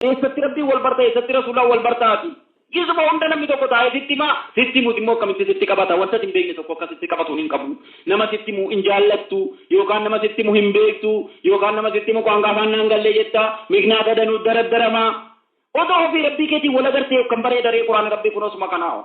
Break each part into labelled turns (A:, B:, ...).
A: Eessatti Rabbiin wal barta, eessatti Rasuullaan wal barta ati? Isuma hunda namni tokko taa'ee sitti hima, sitti himus immoo akkamitti sitti qabata? Wanta ati hin beekne tokko akka sitti qabatu hin qabu. Nama sitti himu hin jaallattu, yookaan nama sitti himu hin beektu, yookaan nama sitti himu qaanqaa isaan naan galle jetta, miknaata danuut daraddarama. Odoo ofii Rabbii keetiin wal agartee akkam bareeda ree Qur'aanni Rabbii kunoo suma kanaa hoo.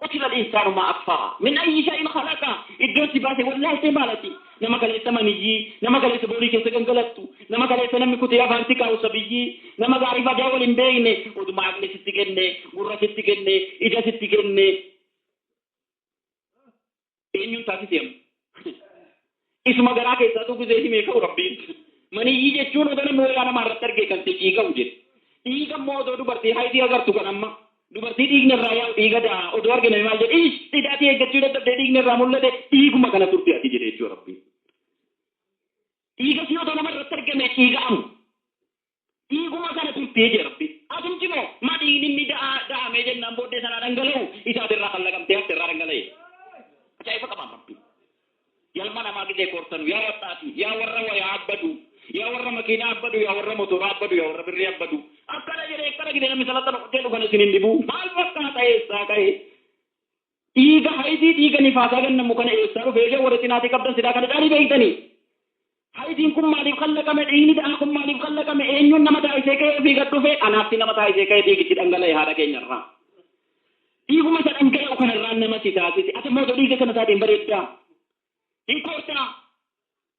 A: Qutila al-insaanu maa akfaraa min ayyi shay'in khalaqaa Iddoon si baase wallaaltee maal ati? Nama kaleessa maniyyii, nama kaleessa boolii keessa gangalattu, nama kaleessa namni kutee afaan si kaa'u sabiyyii, nama gaariif hadaa wal hin beekne, oduma aqli sitti kenne, gurra sitti kenne, ija sitti kenne, Eenyuun taasise amma? Isuma garaa keessaatuu guzee himee ka'u rabbiin. Maniyyii jechuun ogana mooyaa namaa irratti argee kan ta'e dhiiga'u jedhe. Dhiiga immoo odoo dubartii haydii agartu kan amma dubartii dhiigni irraa yaa'u dhiiga daa odoo arge namni maal jedhe ish idaatii eeggachuu dadhabdee dhiigni irraa mul'ate dhiiguma kana turte ati jedhe jechuudha rabbiin. Dhiiga si odoo nama irratti argame dhiiga'amu. Dhiiguma kana turtee jee rabbi. Atumti moo ma dhiigni inni da'aa da'amee jennaan booddee sanaa dhangala'u isa ati irraa kan laqamtee hafte irraa dhangala'e. Ajaa'iba qabaan rabbi. Yalma namaa gizee koortanu yaa wadhaati yaa warra wayaa abbadu yaa warra makiinaa abbadu yaa warra motoraa abbadu yaa warra birrii abbadu akkana jedhee akkana gidee namni salaxana qotee dhugana isin hin dhibuu maal fakkaata eessaa ka'ee Dhiiga hayidii dhiiga nifaasaa gannamu kana eessaa dhufe ishee warri xinaatii qabdan silaa kana caalii beektanii? Hayidiin kun maaliif kallaqame dhiigni da'aa kun maaliif kallaqame eenyuun nama taasisee ka'ee ofii gad dhufee anaafti nama taasisee ka'ee dhiigichi dhangala'e haadha keenya irraa dhiiguma isa dhangala'u kana irraa nama si taasise ati immoo ija dhiiga kana isaatiin bareeddaa hin koortaa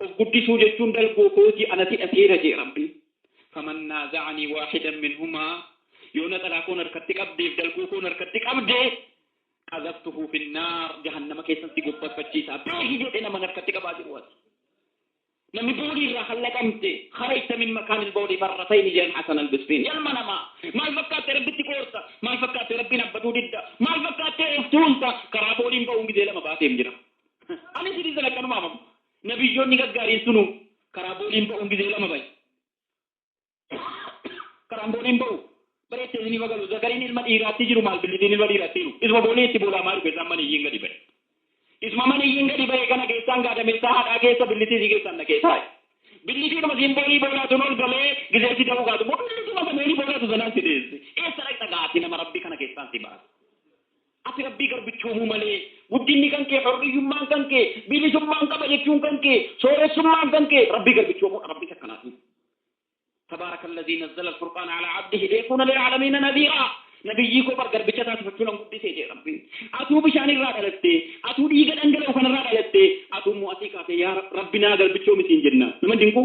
A: Of guddisuu jechuun dalgoo kooti anati dhateera je'e Rabbiin. Faman naaza'anii waahidan minhumaa Yoo naxalaa koon harkatti qabdeef dalgoo koon harkatti qabde qazaftuhu finnaar jahannama keessan si gobbarfachiisa beeki jedhe naman harkatti qabaa jiru ati. Namni boolii irraa kan laqamte kharajta min makaanil bawli marratayni je'an Hasan Albisriin. Ya ilma namaa! Maal fakkaattee Rabbitti koorta? Maal fakkaattee Rabbiin abbaduu didda? Maal fakkaattee of tuulta? Karaa booliin ba'uun gizee lama baateef jira. Ani isinii sana akkanuma amanu. Nabiyyoonni gaggaariin sunuu karaa booliin ba'uun gizee lama ba'e. Karaan booliin ba'u bara itti isiniif agalu zakariin ilma dhiiraatti jiru maal billitiin ilma dhiiraatti jiru. Isuma boolii itti boolaamaa jiru keessaan maniyyiin gadi ba'e. Isuma maniyyiin gadi ba'e kana keessaan gaadameessaa haadhaa keessa billitii isii keessaan dhaqee taa'e. Billitiidhuma isiin boolii boolaatuun ol galee gizee si da'uu kaatu immoo billituma isa boolii boolaatu sanaan si deesse. Eessa dhaqxa gaati nama rabbi kana keessaan si baasa. Ati Rabbii garbichoomuu malee, guddinni kan kee, hurriyyummaan kan kee, bilisummaan qaba jechuun kan kee, sooressummaan kan kee Rabbii garbichoomuudha. Rabbi isa akkanaa dhiisu. Tabaaraka allazii nazzala al-furqaana alaa abdihi liyakuuna lil'aalamiina nadhiiraa. Nabiyyii koo bar garbicha isaa sifachuunan guddise jedhe Rabbiin. Atuu bishaan irraa dhalatte, atuu dhiiga dhangala'u kanarraa dhalatte, atuu immoo asii kaatee yaa Rabbi naa garbichoomi siin jenna. Nama hin dinquu?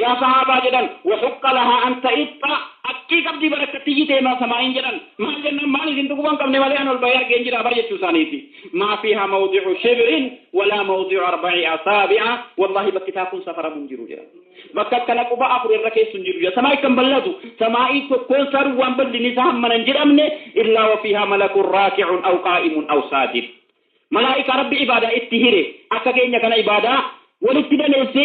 A: Yaa sahaabaa jedhan Wahuqqa lahaa an ta'iqqa Haqqii qabdii bar akka itti iyyite himaa samaa'iin jedhan Maal jennaan maal isin tuquu kan qabne malee an ol bahee argeen jira bar jechuu isaaniiti Maa fiihaa mawdi'u shibrin walaa mawdi'u arba'i asaabi'a Wallaahi bakki isaa kun safaramu hin jiru jedhan Bakka akkana quba afur irra keessu hin jiru jedhan Samaa'ii kan bal'atu samaa'ii tokkoon isaa duwwaan bal'inni isaa hammana hin jedhamne Illaa wa fiihaa malakun raaki'un aw qaa'imun aw saajid Malaa'ikaa Rabbi ibaadaa itti hire akka keenya kana ibaadaa walitti daneessee